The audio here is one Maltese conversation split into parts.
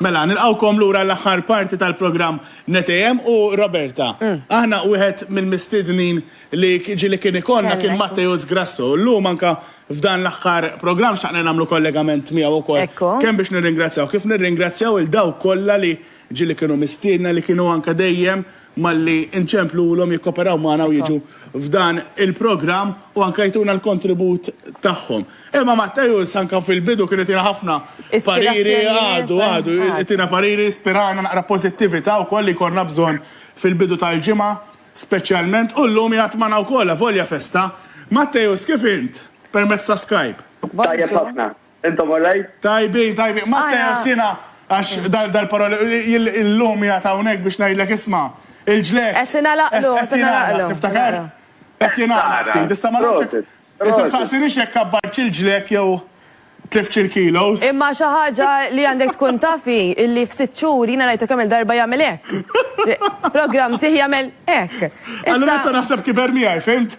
Mela, nilqawkom lura l-aħħar parti tal-programm NetAM u Roberta. Mm. Aħna wieħed mill-mistednin li ġili kien ikonna kien Matteus Grasso. Llum anka f'dan l-aħħar programm xaqna nagħmlu kollegament miegħu wkoll. Kemm biex nirringrazzjaw, kif nirringrazzjaw il daw kollha li ġili kienu mistiedna li kienu anka dejjem malli nċemplulhom jikkoperaw magħna u jiġu f'dan il-programm u anke jtuna l-kontribut tagħhom. Imma Matteus anke fil-bidu kien itina ħafna pariri, għadu, għadu, itina pariri, spirana naqra pożittività wkoll li jkollna bżonn fil-bidu tal-ġimgħa speċjalment u llum jgħid magħna wkoll avolja festa. Matteus kif int permezz ta' Skype? Tajjeb ħafna. Intom all right? Tajbin, tajbin. Matteo, sina, għax dal-paroli, il-lum jgħat hawnhekk biex ngħidlek isma' il-ġlek. Qed ingħalaqlu, qed ingħalaqlu. Tiftakar? Qed jingħalaq ftit. Issa ma nafx. Issa saqsinix jekk kabbartx il-ġlek jew tliftx il-kilos. Imma xi ħaġa li għandek tkun tafi illi f'sitt xhur jiena rajtu kemm il-darba jagħmel hekk. Programm sieħ jagħmel hekk. Allura issa naħseb kiber miegħi, fimt?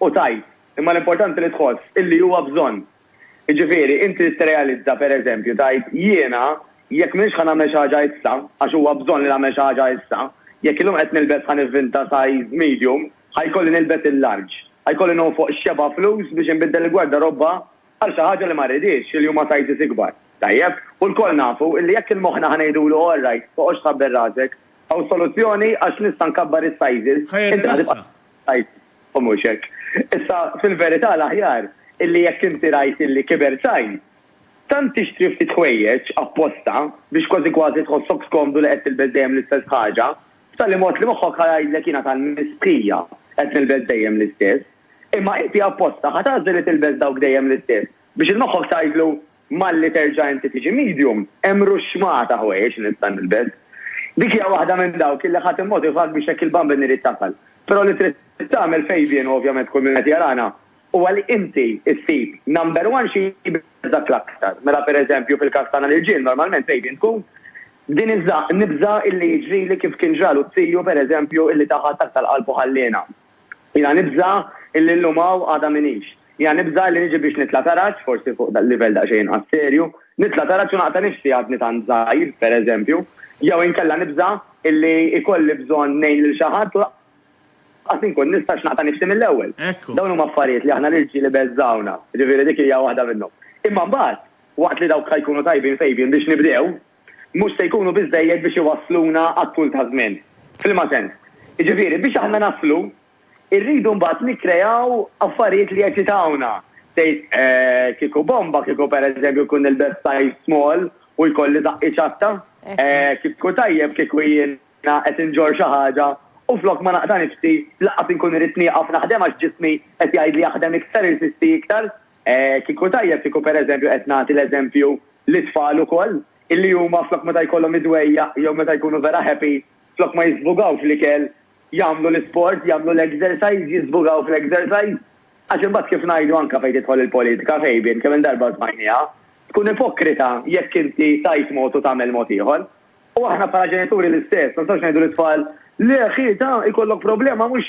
u tgħid, imma l-importanti li tħoss illi huwa bżonn. Jiġifieri, inti trid tirrealizza, per eżempju, tgħid, jiena jekk m'iniex ħa nagħmel xi ħaġa issa, għax huwa bżonn li nagħmel xi ħaġa issa, jekk illum qed nilbes ħa nivvinta size medium, ħa jkolli nilbes il-large. Ħa jkolli nonfoq x'xebgħa flus biex inbiddel il-gwardarobba għal xi ħaġa li ma rridhiex, li huma sizes ikbar. Tajjeb, u lkoll nafu illi jekk il-moħħna ħa ngħidulu all right, toqgħodx tħabbel rasek, hawn soluzzjoni għax nista' nkabbar is-sizes, inti ħa tibqa'. Tajt, u mhux hekk. Issa, fil-verità, l-aħjar illi jekk inti rajt illi kiber sajn, tant tixtri ftit ħwejjeġ apposta biex kważi kważi tħossok skomdu li qed tilbes dejjem l-istess ħaġa, b'tali mod li moħħok ħa jgħidlek jiena tal-mistħija qed nilbes dejjem l-istess. Imma inti apposta ħa tagħżel li tilbes dawk dejjem l-istess biex 'il moħħok tgħidlu Malli terġa' inti tiġi medium, hemm ruxxmah ta' ħwejjeġ li nista' nilbes. Dik hija waħda minn dawk illi ħa timmotivak biex hekk il-bambin irid tasal. Però li trid tagħmel Fabian u ovvjament kull min qed jarana huwa li inti ssib number one xi jbiżżgħek l-aktar. Mela per eżempju fil-każ tagħna l-irġiel normalment Fabian tkun din iż-ża, nibża' illi jiġrili kif kien ġralu t-tiju per eżempju illi ta ħadd aktar qalb u ħalliena. Jiena nibża' illi llum hawn għada m'iniex. Jiena nibża' illi niġi biex nitla' taraġ, forsi fuq livell daqsxejn inqas serju, nitla' taraġ u naqta' nifsi għadni tant żgħir, per eżempju. Jew inkella nibża' illi jkolli bżonn ngħin lil xi ħadd u lanqas inkun nista' għax naqta' nifsi mill-ewwel. Dawn huma affarijiet li aħna l-irġiel ibeżżgħuna, jiġifieri dik hija waħda minnhom. Imma mbagħad, waqt li dawk ħa jkunu tajbin fejbin biex nibdew, mhux se jkunu biżżejjed biex iwassluna għat-tul ta' żmien. F'liema sens? Jiġifieri, biex aħna naslu, irridu mbagħad nikkreaw affarijiet li jeċitawna. Tgħid, eh, kieku bomba, kieku pereżempju nkun nilbes size small u jkolli żaqqi ċatta? Eh, kieku tajjeb kieku jiena qed inġorr xi ħaġa u flok ma naqta' nifsi, lanqas inkun irrid nieqaf naħdem għax ġismi qed jgħidli aħdem iktar, irsisti iktar? Kieku tajjeb kieku pereżempju qed nagħti l-eżempju lit-tfal ukoll, illi huma flok meta jkollhom id-dwejjaq jew meta jkunu vera happy, flok ma jiżbugaw fl-ikel, jagħmlu l-isport, jagħmlu l-exercise, jiżbugaw fl-exercise. Għax imbagħad kif ngħidu anke fejn tidħol il-politika, Fabian, kemm-il darba smajnieha, tkun ipokrita jekk inti tgħid mod u tagħmel mod ieħor. U aħna bħala ġenituri l-istess, ma nistgħux ngħidu lit-tfal, le ħieta, ikollok problema mhux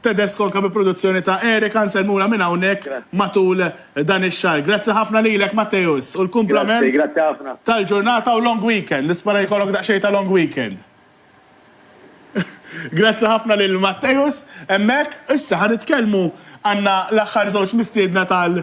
Tedesco anke bi produzzjoni ta' Eric Anselmula minn hawnhekk matul dan ix-xahar. Grazzi ħafna lilek Matteus u l-kumplament tal-ġurnata u long weekend. Nispera jkollok daqsxejn ta' long weekend. Grazzi ħafna lil Matteus hemmhekk. Issa ħa nitkellmu għandna l-aħħar żewġ mistiedna tal